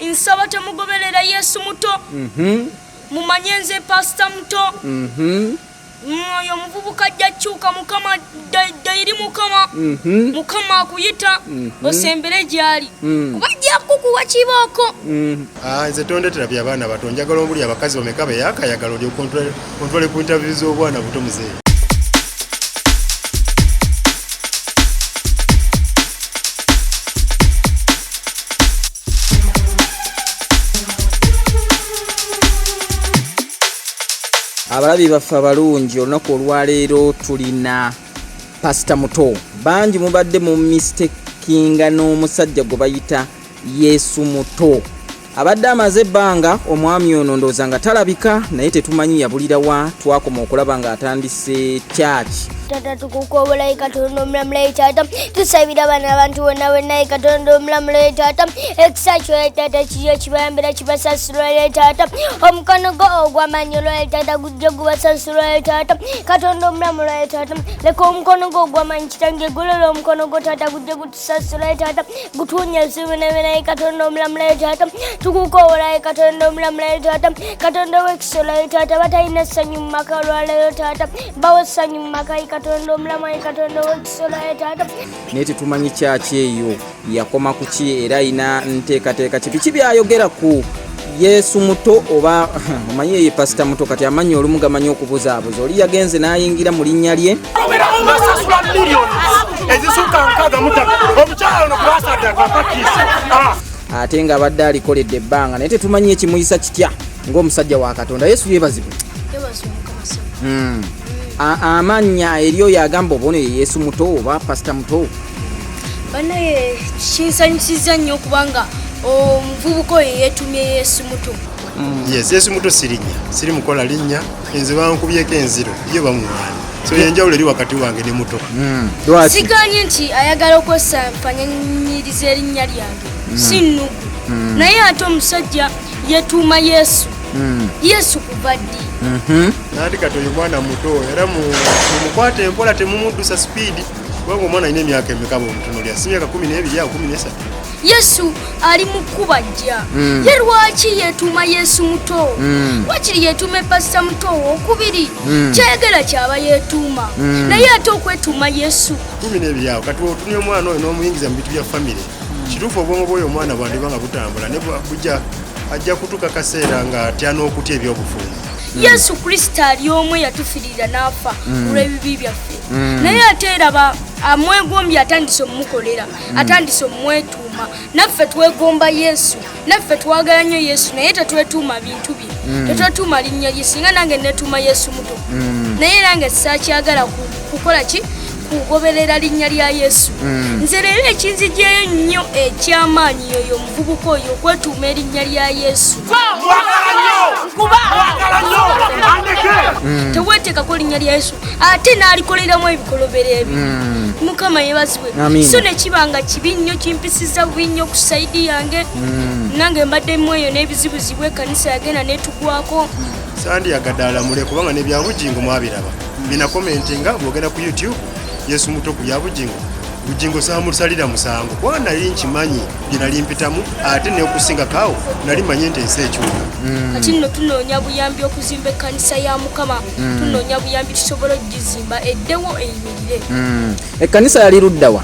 nsaba temugoberera yesu muto mhm. mumanye nze pasita muto mhm. oyo omuvubuka ajja kyuka mukama dairi mukama mhm. mukama akuyita osembere gyali kuba ajja kukuwa kibooko ah, nze tondetera byabaana bato njagala omuli abakazi bameka beyakayagala olyokontrole Ontwale ku interview z'obwana buto mzee. abalabi baffe abalungi olunaku olwaleero tulina pasita muto bangi mubadde mu mistekinga n'omusajja gwe bayita yesu muto abadde amaze ebbanga omwami ono ndowooza nga talabika naye tetumanyi yabulira wa twakoma okulaba ng'atandise kyaki tata tukukwobolayi katonda omulamulayi tata tusabira abana abantu bonna bwenaye katonda omulamulayi tata ekisa kyoye tata kiyo kibayambira kibasasulwaye tata omukono gwo ogwamanyi olwaye tata gujja gubasasulwaye tata katonda omulamulaye tata leka omukono gwo ogwamanyi kitange gulola omukono gwo tata gujja sasulayo taata gutuunya ebizibu nebinaye katonda omulamulayo taata tukukoowolayo katonda omulamulayo taata katonda owekisolayo taata batalina essanyu mu maka olwaleero taata bawo essanyu mu maka yi katonda omulamayi katonda owekisolayo taata naye tetumanyi kyaki eyo yakoma kuki era ayina nteekateeka kipiki byayogera ku yesu muto oba omanyi eye pasita muto kati amanyi olumu gamanyi okubuzaabuza oli yagenze n'ayingira mu linnya lye ah. ate nga abadde alikoledde ebbanga naye tetumanyi ekimuyisa kitya ng'omusajja wa katonda yesu yebazibwe hmm. amannya eri oyo agamba obona ye yesu muto oba pasita muto banaye kinsanyusiza nnyo kubanga omuvubuka oyo yetumye yesu muto mm. yes yesu muto sirinya siri mukola linnya enze bankubyeko enziro ye bamumwana so yenjawulo eri wakati wange ne muto mm. siganye nti ayagala okwesafanyanyiriza erinnya lyange mm. si nnugu naye ate omusajja yetuuma yesu yesu kuva ddi mm-hmm. nandi kati oyo mwana muto era mumukwata empola temumuddusa sipiidi Wewe omwana alina emyaka emeka bwomutunuulira si myaka kumi n'ebiri awo kumi n'esatu yesu ali mu kkuba jja mm. ye lwaki yeetuuma yesu muto mm. wakiri yeetuuma epasita muto wokubiri mm. kyayagala kyaba yeetuuma mm. naye ate okwetuuma yesu kumi n'ebiri awo kati otumya omwana oyo n'omuyingiza mu bintu bya famire mm. kituufu obwongo bwoyo omwana bwandiba nga butambula ne bujja ajja kutuuka kaseera nga atya n'okutya eby'obufumu mm. yesu kristo ali omu eyatufirira n'afa mm. olw'ebibi byaffe mm. naye ate eraba amwegombye atandise omumukolera mm. atandise omumwetuuma naffe twegomba yesu naffe twagala nnyo yesu naye tetwetuuma bintu bye mm. tetwetuuma linnya lye singa nange netuuma yesu muto mm. naye nange sakyagala kukola ki kugoberera linnya lya yesu mm. nze leero ekinzigyeyo ennyo ekyamaanyi yoyo omuvubuka oyo okwetuuma erinnya lya yesu mm. teweteekako linnya lya yesu ate n'alikoleramu ebikolobero ebyo mm. mukama yebazibwe so nekiba nga kibi nnyo kimpisiza bubi nnyo ku saidi yange nange mbadde mu eyo n'ebizibuzibu ekanisa yagenda netugwako sandiyagadde alamule kubanga nebyabugingo mwabiraba Mina comment nga bwogenda ku YouTube Yesu muto ku yabujingo bujingo samusalira musango kwa nali nkimanyi binali mpitamu ate ne okusinga kawo nali manyi nti ensi ekyuka mm. kati nno tunoonya buyambi okuzimba ekkanisa ya mukama mm. tunoonya buyambi tusobola okugizimba eddewo eyimirire mm. ekkanisa yali luddawa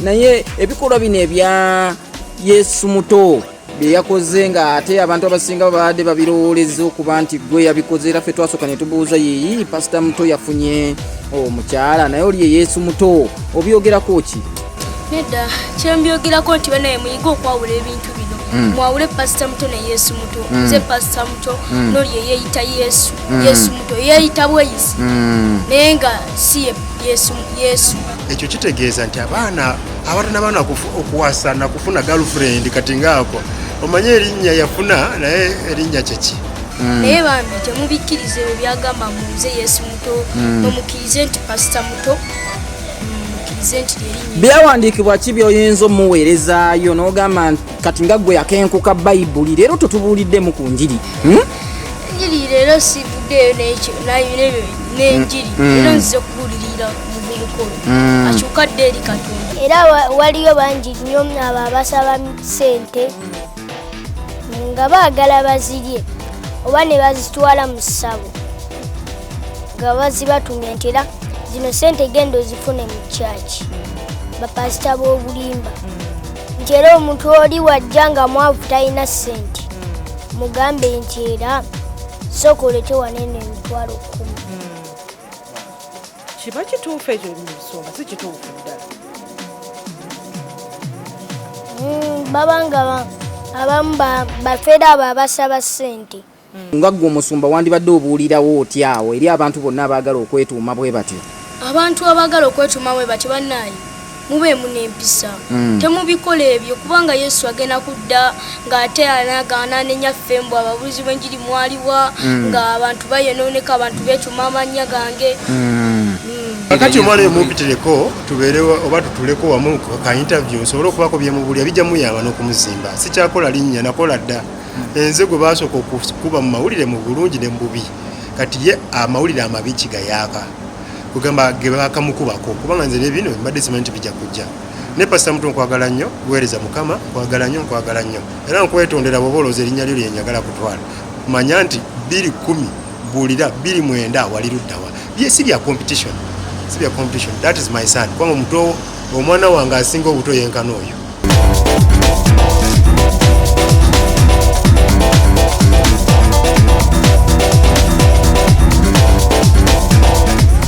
naye ebikolwa bino ebya yesu muto byeyakoze nga ate abantu abasinga babadde babirowooleza okuba nti gwe yabikoze era ffe twasooka ne tubuuza yeyi pasita muto yafunye omukyala naye oli ye yesu muto obyogerako ki nedda kyembyogerako nti banaye muyige okwawula ebintu bino hmm. mwawule pasita muto ne yesu muto hmm. nze pasita muto hmm. noli eyeyita yesu yesu muto eyeyita bweyisi naye nga si yesu yesu ekyo kitegeeza nti abaana abatanabaana okuwasa nakufuna galfrend kati ngaako omanye erinnya yafuna naye erinnya kyeki hmm. naye bambi temubikkiriza ebyo byagamba munze yesu muto hmm. nomukkirize nti pasita muto hmm, byawandiikibwa ki byoyinza omuweerezaayo n'ogamba kati nga gwe yakenkuka bayibuli leero totubuuliddemu ku njiri njiri leero sivuddeeyo n'enjiri leero nzize kubuulirira omuvubuka oyo mm. akyuka dde eri katonda era waliyo bangi nnyo abo abasaba sente nga baagala bazirye oba ne bazitwala mu ssabo nga bazibatumya nti era zino sente genda ozifune mu kyaki bapasita b'obulimba nti era omuntu oli wajja nga mwavu talina sente mugambe nti era sooka oletewaneno emitwalo kumi kiba kituufu ekyo nsonga si kituufu ddala mm, babanga abamu bafeera abo abasaba ssente mm. nga ggwe omusumba wandibadde obuulirawo otya awo eri abantu bonna abaagala okwetuuma bwe batyo abantu abaagala okwetuuma bwe batyo bannaayi mubeemu n'empisa mm. temubikola ebyo kubanga yesu agenda kudda ng'ate anagaana nenyaffe mbu ababuuzi b'enjiri mwaliwa mm. nga abantu bayonooneka abantu beecuma amannya gange mm. kakati omwana emumpitireko tubeere oba tutuleko wamu ka interview nsobole okubako byemubulya bijja muyamba n'okumuzimba sikyakola linnya nakola dda enze gwe baasooka okukuba mu mawulire mu bulungi ne mu bubi kati ye amawulire amabi kigayaaka kugamba ge baakamukubako kubanga nze byebino mbadde simanyi nti bijja kujja ne pasita mutu nkwagala nnyo weereza mukama nkwagala nnyo nkwagala nnyo era nkwetondera bwoba olowooza erinnya lyo lyenyagala kutwala manya nti biri kumi buulira biri mwenda wali luddawa bye si bya competition si bya competition that is my son kubanga omuto omwana wange asinga obuto yenkana oyo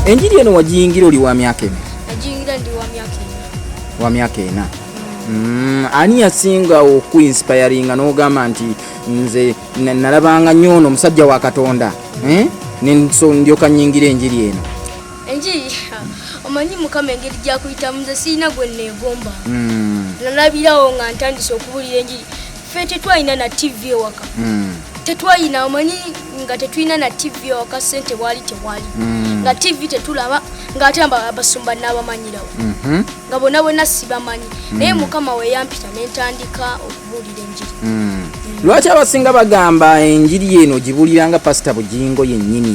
Enjiri eno wagiyingira oli wa myaka ena? Nagiyingira ndi wa myaka ena. Wa myaka ena. Mm, ani yasinga okuinspiringa n'ogamba nti nze nalabanga nnyo ono omusajja wa Katonda eh? ndyoka nyingira enjiri eno? enjiri omanyi mukama engeri gyakuyitamu nze sirina gwe neegomba hmm. nalabirawo nga ntandise okubulira enjiri fe tetwalina na tv ewaka hmm. tetwalina omanyi nga tetulina na tv ewaka sente waali tewali hmm. nga tv tetulaba ngaate abasumba nabamanyirawo mhm. nga bona bona sibamanyi naye mukama weyampita nentandika okubulira enjiri lwaki abasinga bagamba enjiri eno gibulira nga pasita bugingo yennyini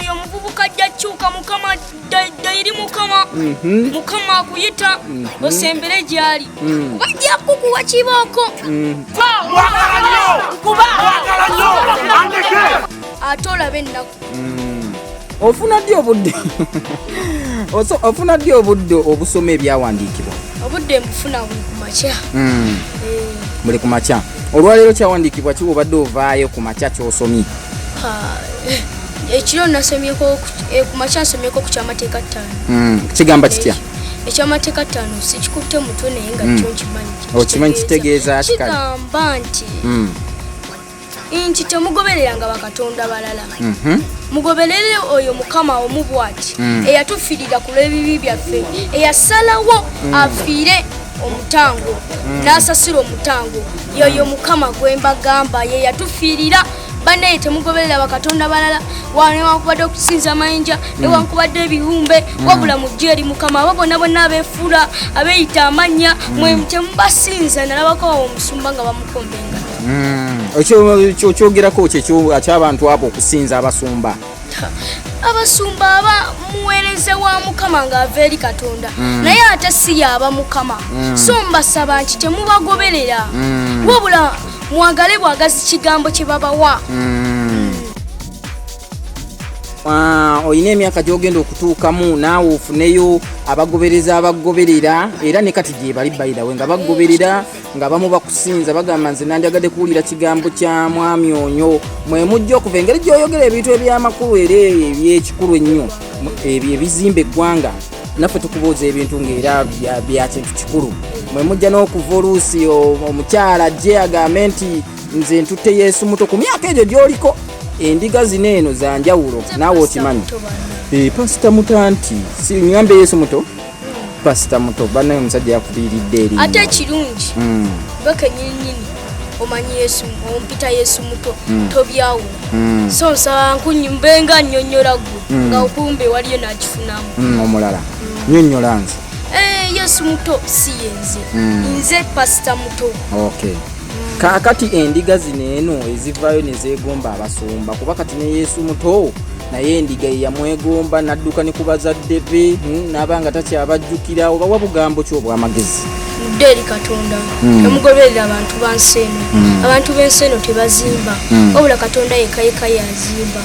oyo omuvubuka ajja kyuka mukama dairi mukama mhm. mukama akuyita mhm. osembere gyali mhm. kuba ajja kukuwa kibooko ate olabe ennaku ofuna ddi obudde ofuna ddi obudde obusoma ebyawandiikibwa obudde mbufuna buli kumakya hmm. eh. buli kumakya olwaleero kyawandiikibwa kiwobadde ovaayo kumakya kyosomye ekiro nasomyeko eh, kumakya nsomyeko ku kyamateeka ttaano hmm, kigamba kitya ekyamateeka ttaano sikikutte mutwe naye nga hmm. kyo nkimanyi okimanyi oh, kitegeeza kigamba nti hmm. nti temugobereranga bakatonda balala mhm. mugoberere oyo mukama omu bwati eyatufirira ku lw'ebibi byaffe eyasalawo afiire omutango n'asasira omutango yoyo mukama gwe mbagamba ye yatufiirira banaye temugoberera bakatonda balala newankubadde okusinza amayinja mm. newankubadde ebibumbe mm. wabula mujje eri mukama abo bonna bonna abefuula abeyita amannya mm. mwe temubasinza nalabako awo omusumba nga bamukombenga okyogerako kyekyo kyabantu abo okusinza abasumba abasumba aba muweereza wa mukama ng'ava eri katonda mm. naye ate si yaaba mukama mm. so mbasaba nti temubagoberera mm. wabula mwagale bwagazi kigambo kye babawa Ah, olina emyaka gyogenda okutuukamu naawe ofuneyo abagobereza abagoberera era ne kati gyebali bayidawe nga bagoberera nga bamu bakusinza bagamba nze nandyagadde kuwulira kigambo kya mwami onyo mwe mujja okuva engeri gyoyogera ebintu ebyamakulu era ebyekikulu ennyo ebyo ebizimba eggwanga naffe tukubuuza ebintu ngaera byakintu kikulu mwe mujja n'okuva oluusi omukyala ajje agambe nti nze ntutte yesu muto ku myaka egyo gyoliko endiga zino eno zanjawulo naawe okimanyi eh, pasita mutanti sinyambe yesu muto pasita muto banaye omusajja yakubiiridde eri ate ekirungi hmm. bekenyininyini omanyi yesu ompita yesu muto hmm. tobyawo hmm. so nsaba nkunyumbenga nyonyola gwe nga okumbe waliyo nakifunamu omulala nyonyola nze eh, yesu muto si yenze nze pasita muto okay kaakati endiga zino eno ezivaayo ne zeegomba abasumba kuba kati ne yesu muto naye endiga ye yamwegomba n'adduka ne ku bazadde be hmm, n'aba nga takyabajjukira oba wa bugambo ki obw'amagezi mudde eri katonda hmm. emugoberera abantu ba nsi eno hmm. abantu b'ensi eno tebazimba wabula katonda yekayeka yazimba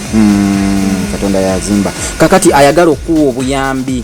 katonda yazimba kakati ayagala okuwa obuyambi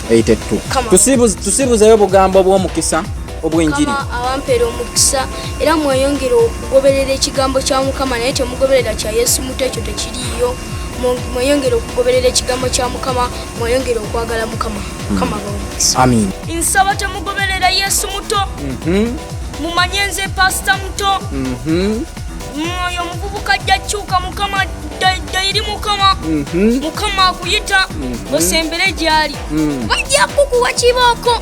82 tusibuzeyo obugambo obw'omukisa obw'enjiri awampera omukisa era mweyongere okugoberera ekigambo kya mukama naye temugoberera kya yesu muto ekyo tekiriyo mweyongere okugoberera ekigambo kya mukama mweyongere okwagala mukama hmm. mukama bawumukisa amin nsaba temugoberera yesu muto mhm. mumanye nze pasita muto mhm. mwoyo omuvubuka ajja kyuka mukama dairi mukama mhm. mukama akuyita mhm. osembere gyali mhm. bajja kukuwa kibooko